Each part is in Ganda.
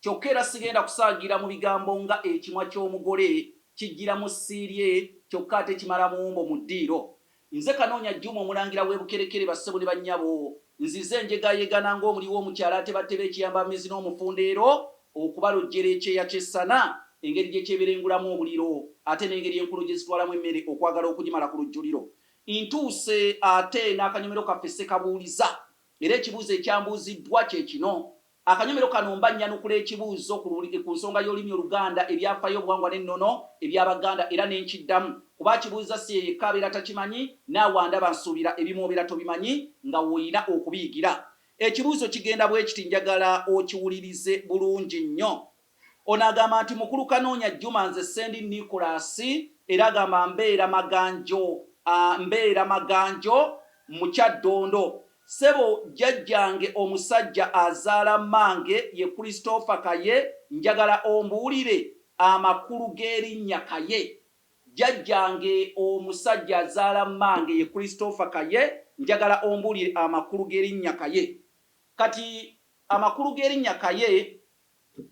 Kyokka era sigenda kusaagira mu bigambo nga ekimwa ky'omugole kijjira mu ssi lye kyokka ate kimala muwumbo mu ddiiro. Nze Kanoonya Juma Omulangira w'e Bukerekere bassebo ne bannyabo, nzize njegaayegana ng'omuli w'omukyala atebatte b'ekiyambammizi n'omufundeero okubalojjera ekyeya ky'essana, engeri gye kyeberengulamu omuliro ate n'engeri enkulo gye zitwalamu emmere okwagala okugimala ku lujjuliro. Ntuuse ate n'akanyomero kaffe Ssekabuuliza era ekibuuzo ekyambuuziddwa kye kino. Akanyomero kano mba nnyanukula ekibuuzzo ku luli, ku nsonga y'olulimi Oluganda, ebyafaayo, obuwangwa n'ennono eby'Abaganda era ne nkiddamu kuba akibuuzza si ye yekka abeera takimanyi, naawe andaba nsuubira ebimu obeera tobimanyi nga w'olina okubiyigira. Ekibuuzzo kigenda bwe kiti, njagala okiwulirize bulungi nnyo. Ono agamba nti Mukulu Kanoonya Jjuma nze ssendi Nicholas era agamba mbeera Maganjo mbeera Maganjo mu Kyaddondo. Ssebo jjajjange omusajja azaala mmange ye Christopher Kaye njagala ombuulire amakulu g'erinnya Kaye. Jjajjange omusajja azaala mmange ye Christopher Kaye njagala ombuulire amakulu g'erinnya Kaye. Kati amakulu g'erinnya Kaye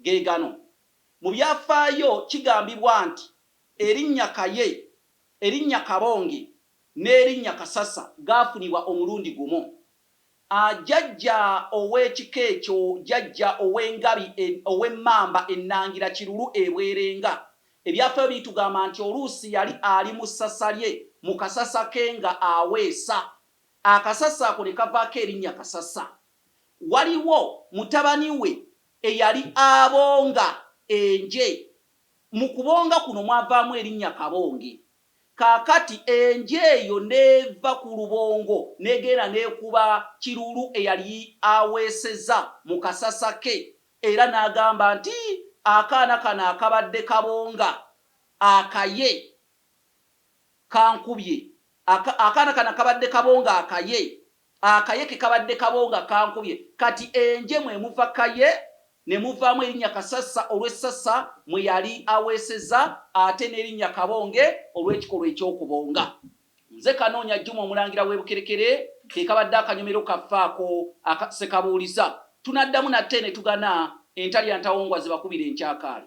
ge gano. Mu byafaayo kigambibwa nti erinnya Kaye, erinnya Kabonge n'erinnya Kasasa gaafunibwa omulundi gumu. A Jjajja ow'ekika ekyo Jjajja ow'engabi e ow'emmamba ennangira Kirulu e Bwerenga. Ebyafaayo bitugamba nti oluusi yali ali mu ssasa lye mu kasasa ke nga aweesa. Akasasa ako ne kavaako erinnya Kasasa. waliwo mutabani we eyali abonga enje. Mu kubonga kuno mwavaamu erinnya Kabonge. Kaakati enje eyo n'eva ku lubongo n'egenda n'ekuba Kiruulu eyali aweeseza mu kasasa ke era n'agamba nti akaana kano akabadde Kabonga akaye kankubye, akaana kano akabadde Kabonga akaye Akaye ke kabadde kabo nga kankubye. Kati Enje mwe muva Kaye ne muvaamu erinnya Kasasa olw'essasa mwe yali aweeseza ate n'erinnya Kabonge olw'ekikolwa eky'okubonga. Nze Kanoonya Juma Omulangira w'e Bukerekere ke kabadde akanyomero kaffe ako aka Ssekabuuliza. Tunaddamu nate ne tugana entalya ntawongwa zibakubire enkyakaali.